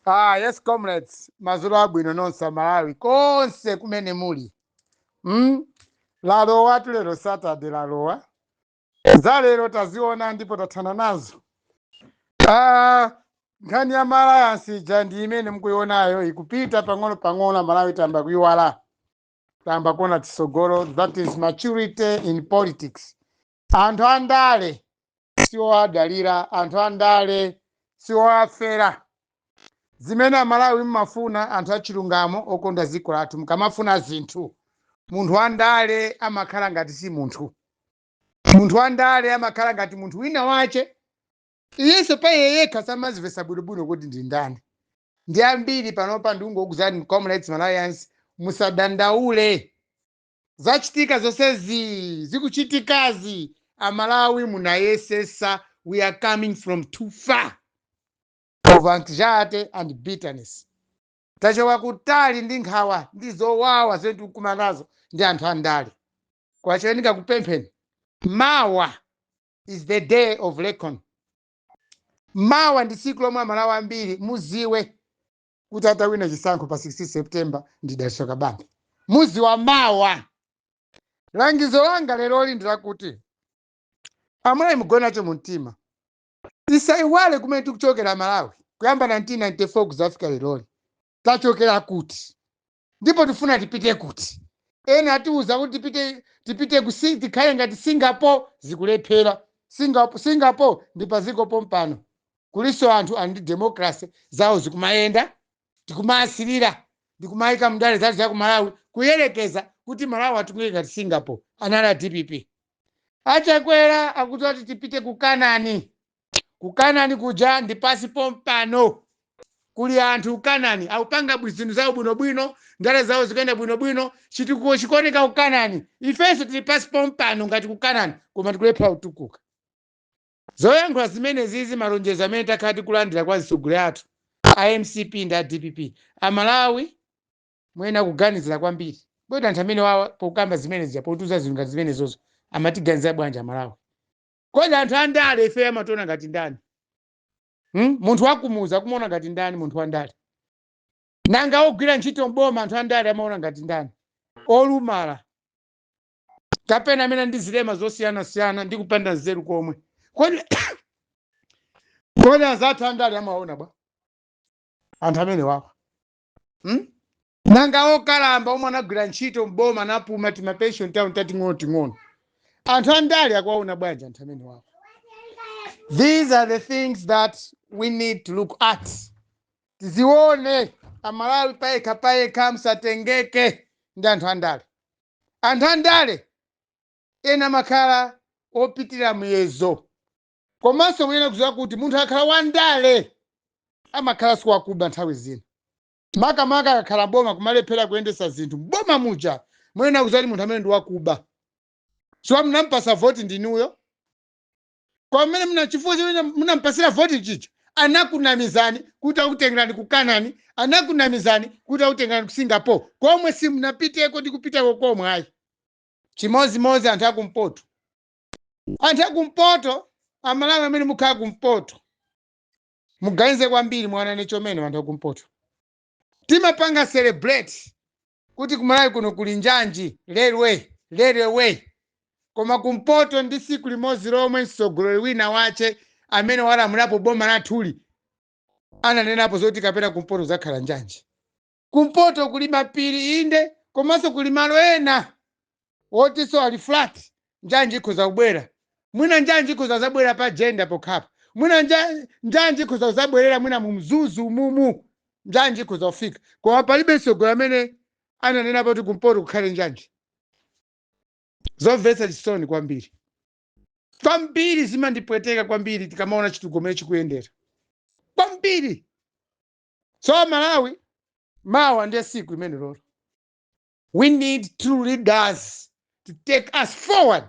Ah, yes comrades, madzulo abwino nonse Amalawi konse kumene muli. Mm? Lalowa tulero Saturday lalowa. Za lero taziona ndipo tathana nazo. Ah, nkhani ya maalayansi ija ndi imene mukuionayo ikupita pang'ono pang'ono Amalawi tayamba kuiwala. Tayamba kuona tsogolo that is maturity in politics. Anthu andale siwowadalira, anthu andale siwowafera. Zimene Amalawi mumafuna anthu achilungamo okonda dziko lathu, mukamafuna zinthu, munthu wandale amakhala ngati si munthu. Munthu wandale amakhala ngati munthu wina wache, iyenso pa iye yekha samazimvetsa bwinobwino kuti ndi ndani. Ndi ambiri panopa ndikungokuuzani Comrades Malawians musadandaule. zachitika zonsezii zikuchitikazi amalawi munayesesa we are coming from too far of anxiety and bitterness tachoka kutali ndi nkhawa ndi zowawa zimene tikukumana nazo ndi anthu andale kwa Chewa ndikupempheni mawa is the day of recon mawa ndi tsiku lomwe amalawi ambiri muziwe kuti atawina chisankho pa 16 september ndi dalitso kabambe muziwa mawa langizo langa leroli ndi lakuti amalawi mugone nacho mu mtima tisaiwale kumene tikuchokera malawi kuyamba 1994 kuzafika leroli tachokera kuti ndipo tifuna tipite kuti ena atiuza kuti tipite tipite ku si- tikhale ngati singapore zikulephera singapore, singapore ndi paziko pompano kulinso anthu ali ndi democracy zawo zikumayenda tikumawasirira ndikumayika mndale zathu za ku malawi kuyerekeza kuti malawi atukuke ngati singapore anali a dpp achakwera akuti ati tipite ku kanani Ku Kanani kuja ndi pansi pompano. Kuli anthu ku Kanani akupanga bwi- zinthu zawo bwinobwino, ndale zawo zikuyenda bwinobwino, chitukuko chikuoneka ku Kanani. Ifenso tili pansi pompano ngati ku Kanani, koma tikulephera kutukuka. Zoyankhula zimenezizi malonjezo amene takhala tikulandira kwa azitsogoleri athu a mcp ndi a dpp, Amalawi muyenera kuganizira kwambiri. Kodi anthu amene wawa pokamba zimenezi zija, potiuza zinthu ngati zimenezozo amatiganizira bwanji Amalawi? kodi anthu andale ifeyo amationa ngati ndani hmm? munthu wakumudzi akumuona ngati ndani munthu wandale nanga ogwira ntchito mboma anthu andale amaona ngati ndani olumala kapena amene ali ndi zilema zosiyanasiyana ndi kupanda nzeru komwe kodi kodi anzathu andale amaona bwa anthu amene wawa hmm? nanga okalamba omwe anagwira ntchito m'boma anapuma timapension tawo tating'onoting'ono anthu andale akuwaona bwanji anthu amene wawo these are the things that we need to look at tizione amalawi payekha payekha msatengeke ndi anthu andale anthu andale ena amakhala opitira muyezo komanso muyenera kuziwa kuti munthu akhala wandale amakhala siwakuba nthawi zina makamaka akakhala m'boma kumalephera kuyendesa zinthu m'boma muja muyenera kuziwa kuti munthu amene ndi wakuba so munampasa voti ndinuyo kwa mmene mna chifukwa chimene munampasira voti chicho anakunamizani kuti akutengerani ku kanani anakunamizani kuti akutengerani ku singapore komwe simunapiteko ndi kupitako komwe ayi chimodzimodzi anthu akumpoto anthu akumpoto amalawi amene mukhala kumpoto muganize kwambiri mwawanane chomene anthu akumpoto timapanga celebrate kuti kumalawi kuno kuli njanji railway railway koma kumpoto ndi tsiku limodzi lomwe mtsogoleri wina wache amene walamulapo boma lathuli ananenapo zoti kapena kumpoto kuzakhala njanji kumpoto kuli mapiri inde komanso kuli malo ena wotinso ali flat njanji ikhoza kubwera mwina njanji ikhoza kuzabwera pa jenda pokhapa mwina nja- njanji ikhoza kuzabwerera mwina mu mzuzu mumu njanji ikhoza kufika koma palibe mtsogoleri amene ananenapo kuti kumpoto kukhale njanji zomvetsa chisoni kwambiri kwambiri zimandipweteka kwambiri tikamaona chitukuko chikuyendera kwambiri so amalawi mawa ndiye siku limenelolo we need true leaders to take us forward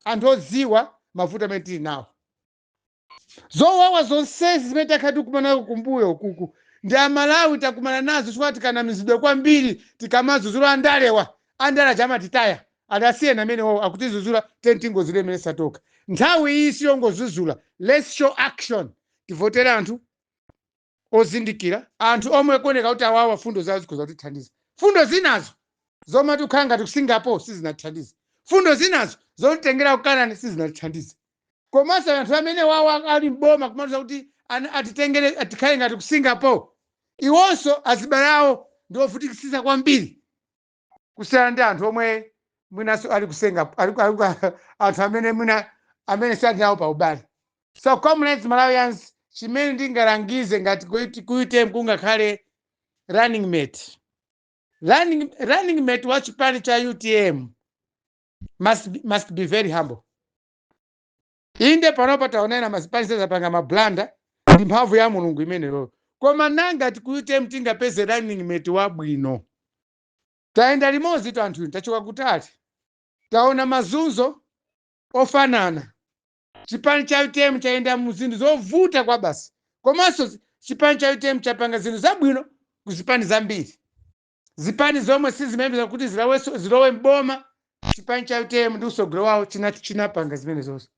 anthu odziwa mavuto amene tili nawo zowawa zonsezi zimene takhala tikumanako kumbuyo ukuku ndi amalawi takumana nazo chifukwa tikanamizidwa kwambiri tikamazuzula andalewa andale aja amatitaya ali asiyeni amene wawo akutizuzula then atingozuzule mmene zathoka nthawi iyi siyongozuzula let's show action tivotere anthu ozindikira. Anthu omwe akuoneka kuti awawa fundo zawo zikhoza kutithandiza. Fundo zinazo zomati kukhala ngati ku Singapore sizinatithandize. Fundo zinazo zotitengera ku Kanani sizinatithandize. Komanso anthu amene wawa ali m'boma kumatiuza kuti atitengere tikhale ngati ku Singapore, iwonso azibale awo ndi ovutikitsitsa kwambiri. kusiyana ndi anthu omwe mwinanso ali kusenga ali ku- ali ku- anthu amene mwina amene sali nawo pa ubale so comrades malawians chimene ndingalangize ngati ku ut- ku utm kungakhale running mate running, running mate wa chipani cha utm must, be- must be very humble Inde, panopa taona ena mazipani sazapanga ma blunder ndi mphamvu ya Mulungu imeneyoyo. Koma nanga ti ku utm tingapeze running mate wabwino? Tayenda limodzitu anthu inu, tachoka kutali, taona mazunzo ofanana. Chipani cha utm chayenda mu zinthu zovuta kwabasi komanso chipani cha utm chapanga zinthu zabwino ku zipani zambiri. zipani zomwe sizimayembeza kuti zilowenso zilowe mboma chipani cha utm ndi usogolo wawo chinati chinapanga zimenezozo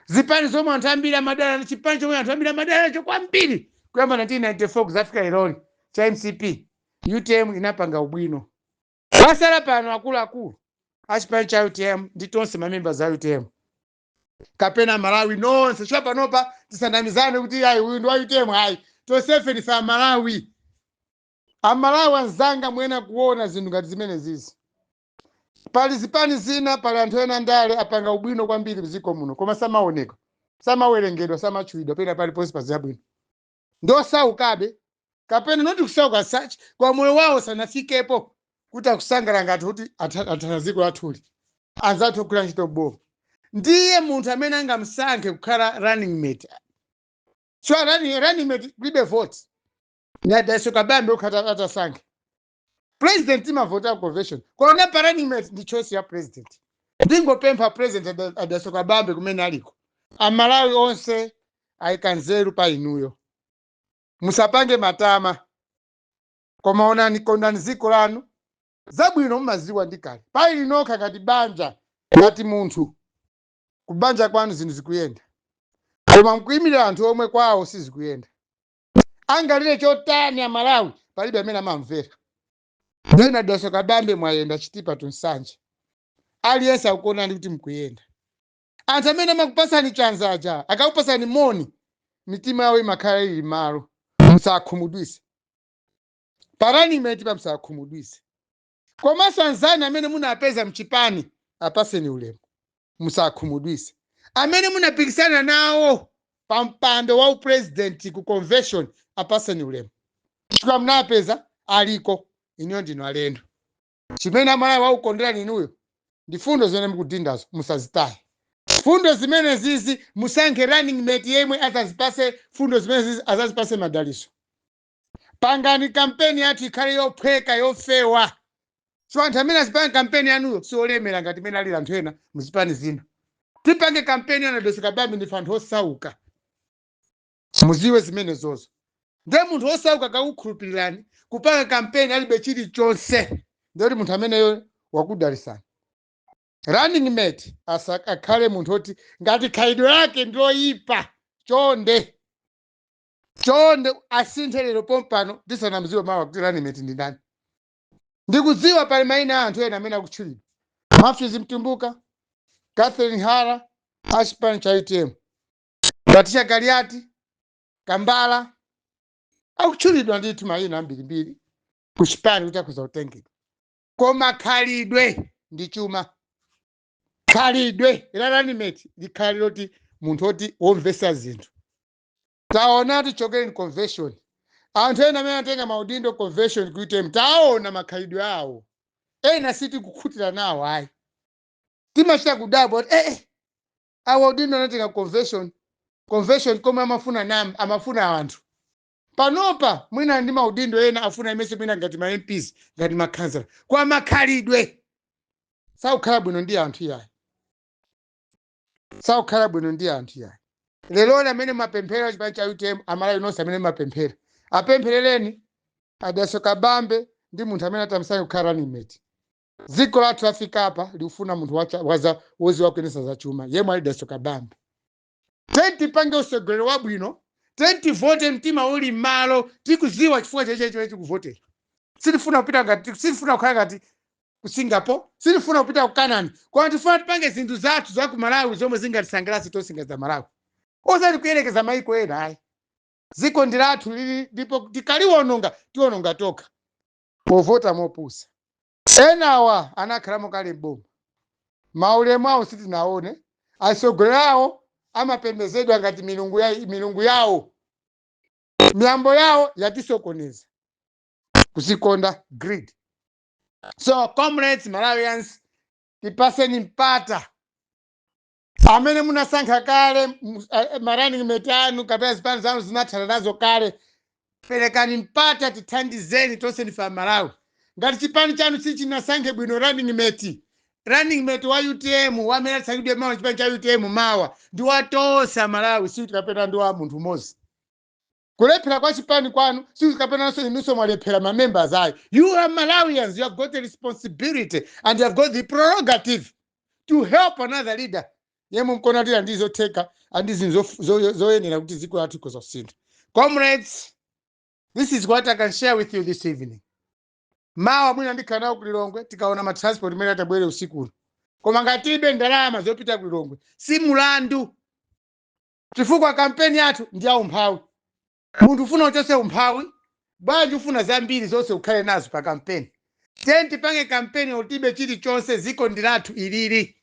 zipani zomwe anthu ambiri amadana ndi chipani chomwe anthu ambiri amadana nacho kwambiri kuyamba 1994 kuzafika leroli cha mcp utm inapanga ubwino pasala pano akuluakulu achipani cha utm ndi tonse mamemba za utm kapena amalawi nonse chifukwa panopa tisanamizane kuti ayi uyu ndi wa utm ayi tonsefe ndife amalawi amalawi anzanga muyenera kuona zinthu ngati zimenezizi pali zipani zina pali anthu ena andale apanga ubwino kwambiri mdziko muno koma samaoneka samawerengedwa samatchulidwa pena paliponse pa zabwino ndosaukabe kapena not kusauka as such koma moyo wawo sanafikepo kuti akusangalala ngati kuti atha- athana dziko lathuli anzathu ogwira ntchito mboma ndiye munthu amene angamsankhe kukhala running mate so running, running mate kulibe vote ndi a dalitso kabambe okha atasankhe president timavota convention koma pa running mate ndi choice ya president ndingopempha president a da- a dalitso kabambe kumene aliko amalawi onse ayika nzeru pa inuyo musapange matama koma onani kondani dziko lanu zabwino mumaziwa ndi kale pa inu nokha ngati banja ngati munthu kubanja kwanu zinthu zikuyenda koma mkuimira anthu omwe kwawo sizikuyenda angalire chotani amalawi palibe amene amamvera ndiye a dalitso kabambe mwayenda chitipa to nsanje aliyense akukuonani kuti mkuyenda anthu amene amakupasani chanza aja akakupasani moni mitima yawo imakhala ili mmalo musakhumudwise pa running mate pa musakhumudwise komanso anzanu amene munapeza mchipani apaseni ulemu musakhumudwise amene munapikisana nawo pa mpando wa upresident ku convention apaseni ulemu chifukwa munapeza aliko inuyo ndinu alendo chimene amalawi akukonderani inuyo ndi fundo zimene mukudindazo musazitaye fundo zimenezizi musankhe running mate yemwe azazipase fundo zimenezizi azazipase madaliso pangani kampeni yathu ikhale yophweka yofewa so anthu amene azipanga kampeni yanuyo si olemera ngati mmene alili anthu ena muzipani zina tipange kampeni yanu a dalitso kabambe ndife anthu osauka muziwe zimenezozo nde munthu osauka akakukhulupirirani kupanga kampeni alibe chilichonse ndekuti munthu ameneyo wakudalisani running mate asa- akhale munthu oti ngati khalidwe lake ndiloyipa chonde chonde asinthe lero pompano ndisanamziwe mawa kuti running mate ndi ndani ndikudziwa pali maina a anthu ena amene akutchulidwa a matthews mtumbuka catherine hara a chipani cha utm patricia kaliati kambala akutchulidwa ndithu maina ambirimbiri ku chipani kuti akhoza kutengedwa koma khalidwe ndi chuma khalidwe la running mate likhale loti munthu oti womvesa zinthu taona tichokereni convention anthu ena amene anatenga maudindo convention ku utm taona makhalidwe awo ena sitikukhutira nawo ayi timachita kudabwa kuti eh, eh, awa udindo anatenga convention convention komwe amafuna nam amafuna anthu panopa mwina ndi maudindo ena afuna aimenso mwina ngati ma mps ngati makhansala koma makhalidwe sakukhala bwino ndi anthu iyayi sakukhala bwino ndi anthu yayi leloli amene mumapemphera chipani cha utm amalawi nonse amene mumapemphera apempherereni a dalitso kabambe ndi munthu amene atamsankhe kukhala running mate dziko lathu lafika apa likufuna munthu wacha- waza- woziwa kuyendesa za chuma yemwe ali dalitso kabambe tiyeni tipange utsogoleri wabwino tiyeni tivote mtima uli m'malo tikuziwa chifukwa chake chimene tikuvotera sitifuna kupita ngati sitifuna kukhala ngati ku singapore sitifuna kupita ku canaan koma tifuna tipange zinthu zathu za ku malawi zomwe zingatisangalatse tonse ngati za malawi osati kuyerekeza mayiko ena ayi dziko ndi lathu ili ndipo tikaliwononga tiwononga tokha povota mopusa enawa anakhalamo kale m'boma maulemu awo sitinaone atsogoleri awo amapembezedwa ngati milungu ya- milungu yawo miyambo yawo yatisokoneza kuzikonda greed so comrades malawians tipaseni mpata amene munasankha kale mu- a- a- ma running mate anu kapena zipani zanu zinathana nazo kale perekani mpata tithandizeni tonse ndife amalawi ngati chipani chanu sichinasankhe bwino running mate running mate wa utm amene atasankhidwe mawa chipani cha utm mawa ndi wa tonse amalawi si kapena ndi wa munthu mmodzi Kulephera kwa chipani kwanu si kapenanso inunso mwalephera ma members ayi. You are Malawians, you have got a responsibility and you have got the prerogative to help another leader yemwe mkona kuti ndi zotheka and zinthu zof- zo- zoyenera kuti dziko lathu ikhoza kusintha. Comrades, this is what I can share with you this evening. Mawa mwina ndikhala nawo kulilongwe tikaona ma transport amene atabwere usiku uno. Koma ngati tilibe ndalama zopita kulilongwe si mulandu chifukwa kampeni yathu ndi yaumphawi. Munthu ufuna uchotse umphawi, bwanji ufuna zambiri zonse ukhale nazo pa kampeni? Tiyeni tipange kampeni olo tilibe chilichonse, dziko ndi lathu ilili.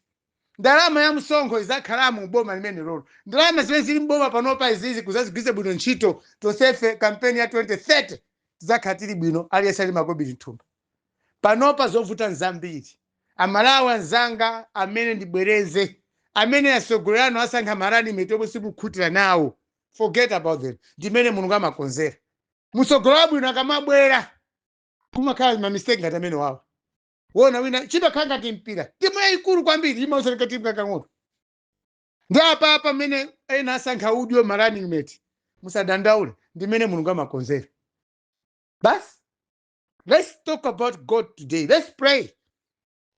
Ndalama ya msonkho idzakhala m'boma limenelolo. Ndalama zimene zili m'boma panopa izizi kudzazigwiritsa bwino ntchito, tonsefe kampeni ya 2030 tidzakhala tili bwino, aliyense ali makobili m'thumba. Panopa zovuta nzambiri. A Malawi anzanga, amene ndibwereze, amene atsogoleri anu asankha ma running mate omwe simukukhutitsidwa nawo, forget about them. Ndi mmene Mulungu amakonzera. Mtsogoleri wabwino akamabwera, kumakhala ma mistake ngati amenewawa. Wona wina, chimakhala ngati mpira. Timu yayikulu kwambiri imaoneka timu kakang'ono. Ndi apa pamene ena asankha udyo ma running mate. Musadandaule, ndi mmene Mulungu amakonzera. Basi. let's talk about god today let's pray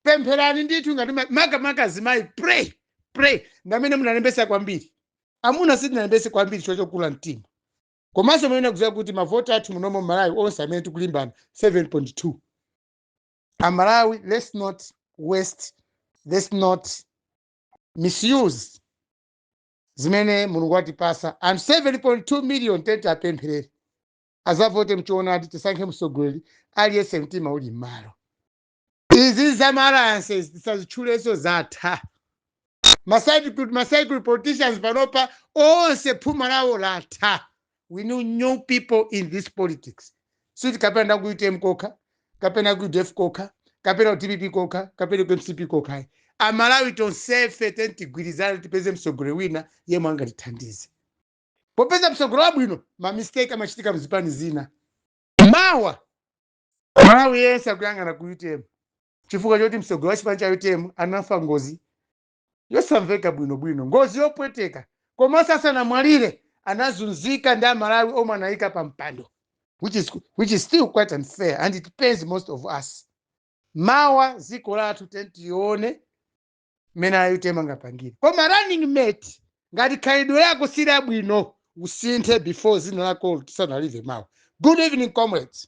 pempherani ndithu ngati ma- makamaka azimayi pray pray ndi amene munalembesa kwambiri amuna sitinalembese kwambiri chifukwa chokula mtima komanso amene akuziwa kuti mavoti athu munomo malawi onse amene tikulimbana 7.2 amalawi let's not waste let's not misuse zimene mulungu watipasa and 7.2 million tiyeni tiapempherere azavote mchoonadi tisankhe mtsogoleri aliyense mtima uli m'malo izi za ma alliances tisazitchulenso zatha ma recycled politicians panopa onse phuma lawo latha we need new people in this politics sikuti kapena ku utm kokha kapena ku udf kokha kapena ku dpp kokha kapena ku mcp kokha amalawi tonsefe tiyeni tigwirizane tipeze mtsogoleri wina yemwe angatithandize popeza mtsogoleri wabwino ma mistake amachitika mzipani zina mawa malawi yense akuyang'ana ku utm chifukwa choti mtsogoleri wa chipani cha utm anafa ngozi yosamveka bwinobwino ngozi yopweteka komanso asanamwalire anazunzika ndi amalawi omwe anayika pa mpando which is still quite unfair and it pains most of us mawa dziko lathu tiyeni tione mmene a UTM angapangire koma running mate ngati khalidwe lako si labwino usinthe before zina lako tisanalive mawa good evening comrades